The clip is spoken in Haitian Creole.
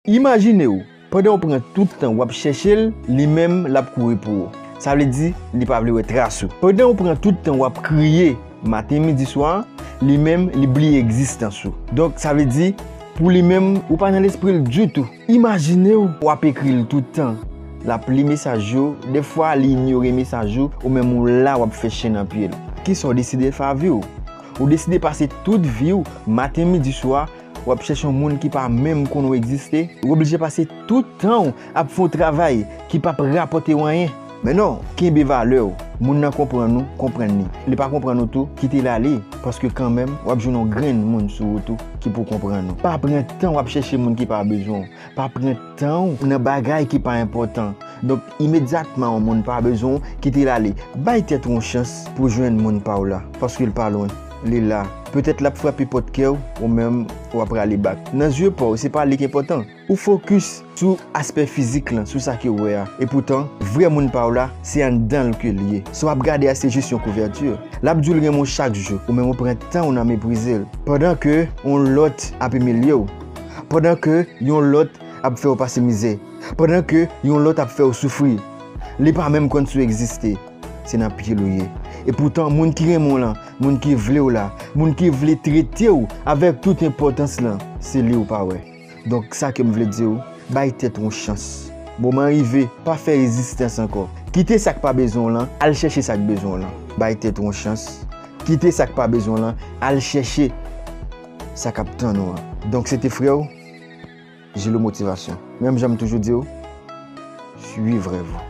Imajine w, pandan w pran tout tan w ap chèche l, li menm l ap kouri pou ou. Sa vle di, li pa vle wè tras ou. Pandan w pran tout tan w ap kriye maten, midi, swa, li menm li bliye egzistans ou. Donk, sa vle di, pou li menm, ou pa nan lespri l ditou. Imajine w, w ap ekri l tout tan, l ap li mesaj yo, dèfwa li inyore mesaj ou, ou menm ou la w ap fè chen nan pye l. Kisa w deside fè a vi w? Ou deside pase tout vi w, maten, midi, swa, Wap chèche yon moun ki pa menm konnen w egziste, ou oblije pase tout tan w ap fè yon travay ki pap rapòte w anyen. Men non, kenbe valè w, moun nan konprann ou, konprann li. Li pa konprann ou tou, kite l ale, paske kanmenm wap jwenn yon grenn moun sou ou tou ki pou konprann ou. Pa pran tan w ap chèche moun ki pa bezwen w. Pa pran tan w nan bagay ki pa enpòtan. Donk, imedyatman yon moun pa bezwen w, kite l ale. Bay tèt ou yon chans pou w jwenn moun pa w la, paske l pa lwen. Li la. Petèt l ap frape pòt kè w, ou menm, w ap rale bak. Nan zye pa w, se pa li ki enpòtan. Ou fokis sou aspè fizik lan, sou sa ke w wè a. Epoutan, vrè moun pa w la, se anndan l ke l ye. Sa w ap gade a se jis yon kouvèti. L ap di w l renmen w chak jou, ou menm ou pran tan w nan meprize l, pandan ke yon lòt ap imilye w. pandan ke yon lòt ap fè ou pase mizè, pandan ke yon lòt ap fè ou soufri, li pa menm konn si w egziste, se nan pye l ou ye. Epoutan, moun ki renmen w lan, moun ki vle w la, moun ki vle trete w avèk tout enpòtans lan, se li ou pa wè. Donk, sa ke m vle di w, bay tèt ou yon chans. Moman rive, pa fè rezistans ankò. Kite sa k pa bezwen w lan, al chèche sa k bezwen w lan. Bay tèt ou yon chans. Kite sa k pa bezwen w lan, al chèche. Sa kap tann ou an. Donk se te frè w Jilo Motivation. Menm jan m toujou di w, swiv rèv ou.